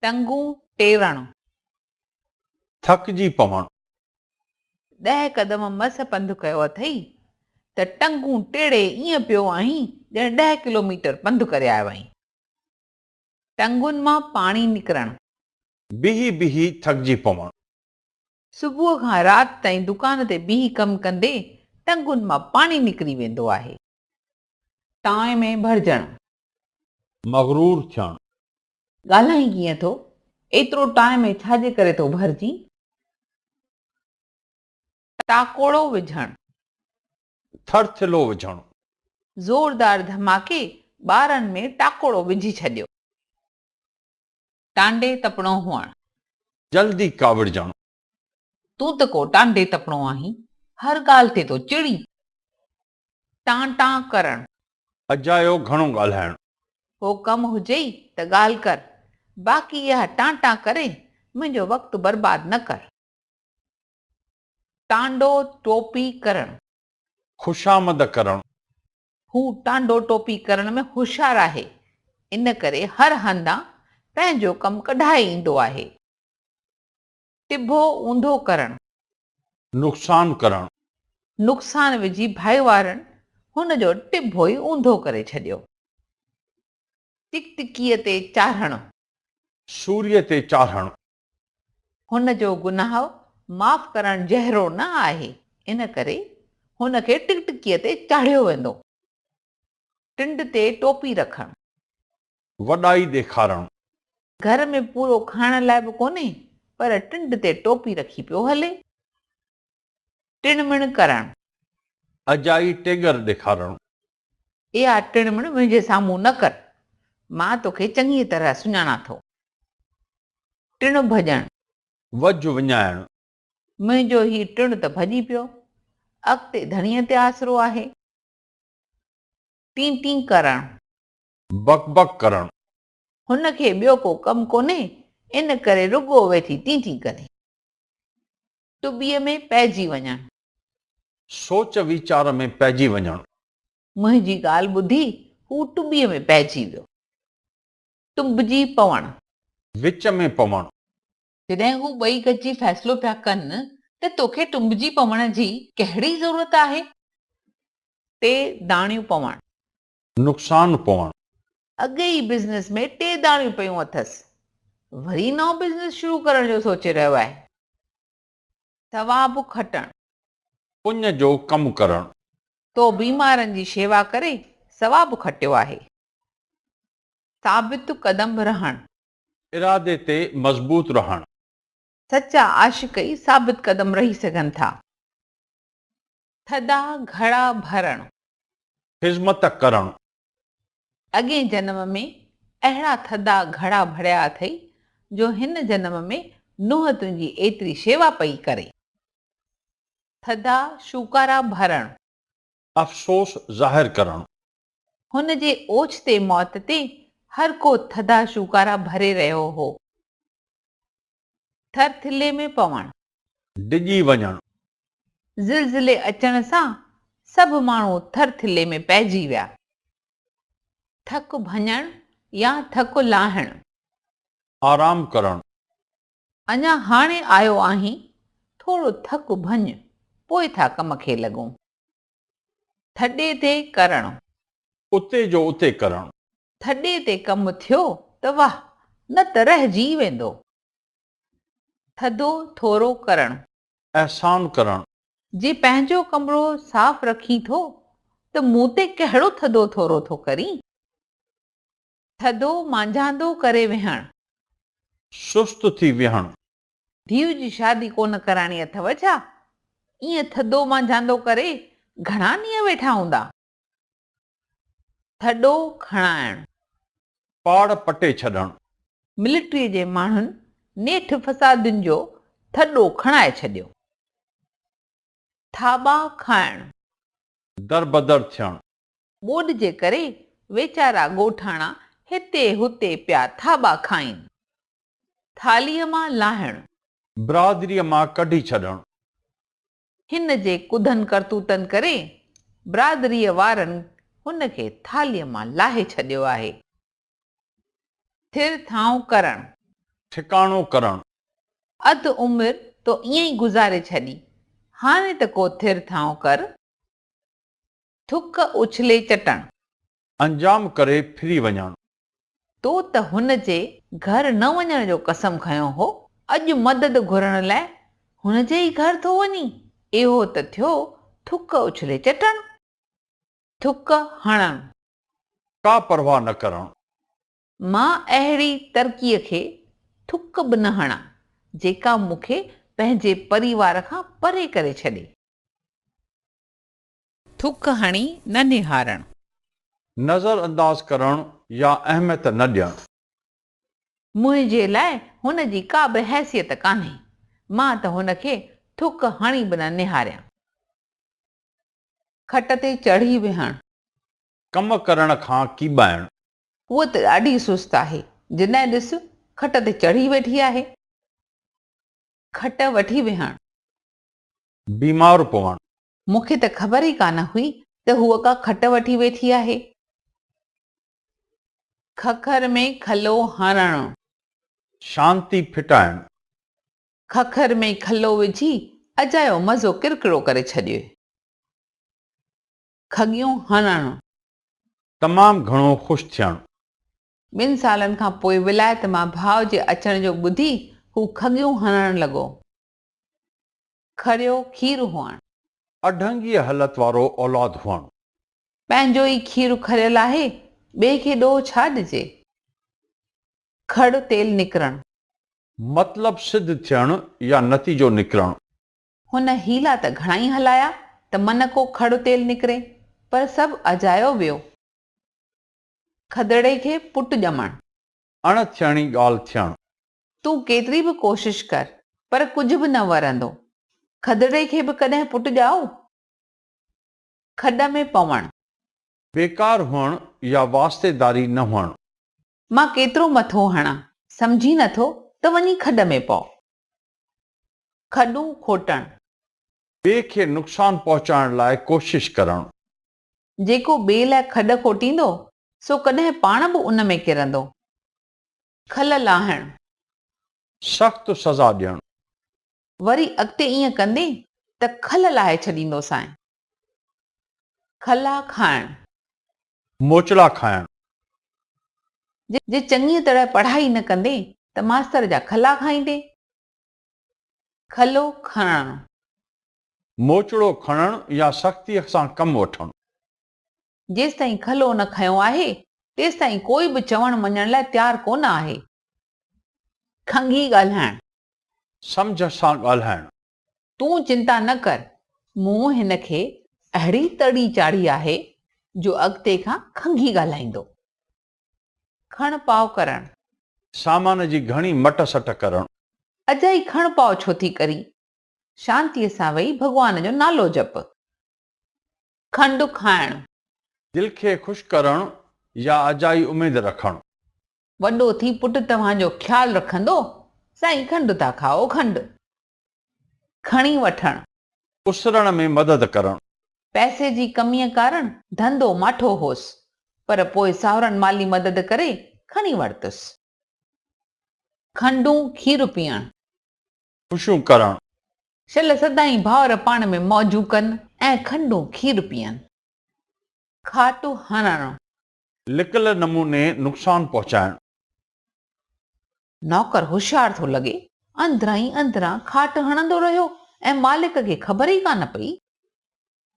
ٽنگون ٽيڙڻ. ٿڪجي پوڻ. ڏهه قدم مس پنڌ ڪيو اٿئي ته ٽنگون ٽيڙي ائين پيو آهين ڄڻ ڏهه ڪلوميٽر پنڌ ڪري آيو آهين. ٽنگون مان پاڻي نڪرڻ. بيهي بيهي ٿڪجي پوڻ. صبح کان رات تائين دڪان تي بيهي ڪم ڪندي ٽنگون مان پاڻي نڪري ويندو آهي. ٽانء ۾ ڀرجڻ. مغرور ٿيڻ. ڳالهائين ڪيئن ٿو؟ ايترو ٽانء ۾ ڇا جي ڪري ٿو ڀرجين؟ ٽاڪوڙو وجهڻ. ٿرٿلو وجهڻ. زوردار ڌماڪي ٻارن ۾ ٽاڪوڙو وجهي ڇڏيو. ٽانڊي تپڻو هئڻ. جلدي ڪاوڙجڻ. تون ته ڪو ٽانڊي تپڻو آهين، هر ڳالهه تي ٿو چڙين. ٽان ٽان ڪرڻ. اجايو گهڻو ڳالهائڻ. ڪو ڪم هجئي ته ڳالهه ڪر. باقي اها ٽان ٽان ڪري منهنجو وقت برباد نه ڪر. ٽانڊو ٽوپي ڪرڻ. خوشامد ڪرڻ. هو ٽانڊو ٽوپي ڪرڻ ۾ هوشيار آهي، ان ڪري هر هنڌان پنهنجو ڪم ڪڍائي ايندو آهي. ٽڀو اونڌو ڪرڻ. نقصان ڪرڻ. نقصان وجهي ڀائيوارن هن جو ٽڀو ئي اونڌو ڪري ڇڏيو. ٽڪٽڪيء تي چاڙهڻ. سوريء تي چاڙهڻ. هن جو گناهه معاف ڪرڻ جهرو نه آهي، ان ڪري هن کي ٽڪٽڪيء تي چاڙهيو ويندو. ٽنڊ تي ٽوپي رکڻ. وڏائي ڏيکارڻ. گهر ۾ پورو کائڻ لاء به ڪونهي پر ٽنڊ تي ٽوپي رکي پيو هلي. ٽڻ مڻ ڪرڻ. اجائي ٽيڳر ڏيکارڻ. اها ٽڻ مڻ منهنجي سامهون نه ڪر، مان توکي چڱيء طرح سڃاڻان ٿو. ٽڻ ڀڄڻ. وجهه وڃائڻ. منهنجو هي ٽڻ ته ڀڄي پيو، اڳتي ڌڻيء تي آسرو آهي. ٽين ٽين ڪرڻ. بڪ بڪ ڪرڻ. هن کي ٻيو ڪو ڪم ڪونهي، ان ڪري رڳو ويٺي ٽين ٽين ڪري. ٽٻيء ۾ پئجي وڃڻ. سوچ ويچار ۾ پئجي وڃڻ. منهنجي ڳالهه ٻڌي هو ٽٻيء ۾ پئجي ويو. ٽنبجي پوڻ. وچ ۾ پوڻ. جڏهن هو ٻئي گڏجي فيصلو پيا ڪن ته توکي ٽنبجي پوڻ جي ڪهڙي ضرورت آهي؟ ٽي داڻيون پوڻ. نقصان پوڻ. اڳ ئي بزنس ۾ ٽي داڻيون پيون اٿس. وري نئون بزنس شروع ڪرڻ جو سوچي رهيو آهي. ثواب کٽڻ. پڃ جو ڪم ڪرڻ. تو بيمارن جي شيوا ڪري ثواب کٽيو آهي. ثابت قدم رهڻ. ارادي تي مضبوط رهڻ. سچا عاشق ئي ثابت قدم رهي سگهن ٿا. ٿڌا گهڙا ڀرڻ. خذمت ڪرڻ. اڳئين جنم ۾ اهڙا ٿڌا گهڙا ڀريا اٿئي جو هن جنم ۾ نوح تنهنجي ايتري شيوا پئي ڪري. ٿڌا شوڪارا ڀرڻ. افسوس ظاهر ڪرڻ. هن جي اوچتي موت تي هر ڪو ٿڌا شوڪارا ڀري رهيو هو. ٿر ٿلهي ۾ پوڻ. ڊڄي وڃڻ. زلزلي اچڻ سان سڀ ماڻهو ٿر ٿلهي ۾ پئجي ويا. ٿڪ ڀڃڻ يا ٿڪ لاهڻ. آرام ڪرڻ. اڃا هاڻي آيو آهين، ٿورو ٿڪ ڀڃ، پوء ٿا ڪم کي لڳون. ٿڏي تي ڪرڻ. اتي جو اتي ڪرڻ. ٿڏي تي ڪم ٿيو ته واهه، نه ته رهجي ويندو. ٿڌو ٿورو ڪرڻ. احسان ڪرڻ. جي پنهنجو ڪمرو صاف رکين ٿو ته مون تي ڪهڙو ٿڌو ٿورو ٿو ڪرين؟ ٿڌو مانجهاندو ڪري ويهڻ. سست ٿي ويهڻ. ڌيء جي شادي ڪونه ڪرائڻي اٿئو ڇا؟ ائين ٿڌو مانجهاندو ڪري گهڻا ڏينهن ويٺا هوندا؟ ٿڏو کڻائڻ. پاڙ پٽي ڇڏڻ. ملٽريء جي ماڻهن نيٺ فسادين جو ٿڏو کڻائي ڇڏيو. ٿاٻا کائڻ. دربدر ٿيڻ. ٻوڏ جي ڪري ويچارا ڳوٺاڻا هتي هتي پيا ٿاٻا کائين. ٿالهيء مان لاهڻ. برادريء مان ڪڍي ڇڏڻ. هن جي ڪڌن ڪرتوتن ڪري برادريء وارن هن کي ٿالهيء مان لاهي ڇڏيو آهي. ٿر ٿانء ڪرڻ. ٺڪاڻو ڪرڻ. اڌ عمر تو ائين ئي گذاري ڇڏي، هاڻي ته ڪو ٿر ٿانء ڪر. ٿڪ اڇلي چٽڻ. انجام ڪري ڦري وڃڻ. تو ته هن جي گهر نه وڃڻ جو قسم کنيو هو، اڄ مدد گهرڻ لاء هن جي ئي گهر ٿو وڃين؟ اهو ته ٿيو ٿڪ اڇلي چٽڻ. ٿڪ هڻڻ. ڪا پرواهه نه ڪرڻ. مان اهڙي ترڪيء کي ٿڪ به نه هڻان، جيڪا مون کي پنهنجي پريوار کان پري ڪري ڇڏي. ٿڪ هڻي نه نهارڻ. نظر انداز ڪرڻ يا اهميت نه ڏيڻ. منهنجي لاء هن جي ڪا به حيثيت ڪانهي. مان ته هن کي ٿڪ هڻي به نه نهاريان. کٽ تي چڙهي ويهڻ. ڪم ڪرڻ کان ڪيٻائڻ. هوء ته ڏاڍي سست آهي. جڏهن ڏس کٽ تي چڙهي ويٺي آهي. کٽ وٺي ويهڻ. بيمار پوڻ. مون کي ته خبر ئي ڪانه هئي ته هوء ڪا کٽ وٺي ويٺي آهي. ککر ۾ کلو هڻڻ. شانتي ڦٽائڻ. ککر ۾ کلو وجهي اجايو مزو ڪرڪرو ڪري ڇڏيو. کڳيون هڻڻ. تمام گهڻو خوش ٿيڻ. ٻن سالن کان پوء ولايت مان ڀاء جي اچڻ جو ٻڌي هو کڳيون هڻڻ لڳو. کريو کير هئڻ. اڍنگيء حلت وارو اولاد هئڻ. پنهنجو ئي کير کريل آهي، ٻئي کي ڏوهه ڇا ڏجي. کڙ تيل نڪرڻ. مطلب سڌ ٿيڻ يا نتيجو نڪرڻ. هن حيلا ته گهڻائي هلايا ته من ڪو کڙ تيل نڪري، پر سڀ اجايو ويو. کدڙي کي پٽ ڄمڻ. اڻ ٿيڻي ڳالهه ٿيڻ. تون ڪيتري به ڪوشش ڪر پر ڪجهه به نه ورندو. کدڙي کي به ڪڏهن پٽ ڄائو؟ کڏ ۾ پوڻ. بيڪار هئڻ يا واسطيداري نه هئڻ. مان ڪيترو مٿو هڻان. سمجهين نٿو ته وڃي کڏ ۾ پئو. کڏون کوٽڻ. ٻئي کي نقصان پهچائڻ لاء ڪوشش ڪرڻ. جيڪو ٻئي لاء کڏ کوٽيندو سو ڪڏهن پاڻ به ان ۾ ڪرندو. کل لاهڻ. سخت سزا ڏيڻ. وري اڳتي ائين ڪندين ته کل لاهي ڇڏيندوسانء. کلا کائڻ. موچڙا کائڻ. جي چڱيء طرح پڙهائي نه ڪندين ته ماستر جا کلا کائيندين. کلو کڻڻ. موچڙو کڻڻ يا سختيء سان ڪم وٺڻ. جيستائين کلو نه کنيو آهي، تيستائين ڪوئي به چوڻ مڃڻ لاء تيار ڪونه آهي. کنگهي ڳالهائڻ. سمجهه سان ڳالهائڻ. تون چنتا نه ڪر، مون هن کي اهڙي تڙي چاڙهي آهي، جو اڳتي کان کنگهي ڳالهائيندو. کڻ پاء ڪرڻ. سامان جي گهڻي مٽ سٽ ڪرڻ. اجائي کڻ پاء ڇو ٿي ڪرين، شانتيء سان ويهي ڀڳوان جو نالو جپ. کنڊ کائڻ. دل کي خوش ڪرڻ يا اجائي اميد رکڻ. وڏو ٿي پٽ توهان جو خيال رکندو. سائين کنڊ ٿا کائو کنڊ کڻي وٺڻ. اسرڻ ۾ مدد ڪرڻ. پئسي جي ڪميء ڪارڻ ڌنڌو ماٺو هوس، پر پوء ساهرن مالي مدد ڪري کڻي ورتس. کنڊون کير پيئڻ. خوشيون ڪرڻ. شل سدائين ڀائر پاڻ ۾ موجون ڪن. ۽ کنڊون کير پيئن. کاٽو هڻڻ. لڪل نموني نقصان پهچائڻ. نوڪر هوشيار ٿو لڳي. اندران ئي اندران کاٽ هڻندو رهيو ۽ مالڪ کي خبر ئي ڪانه پئي.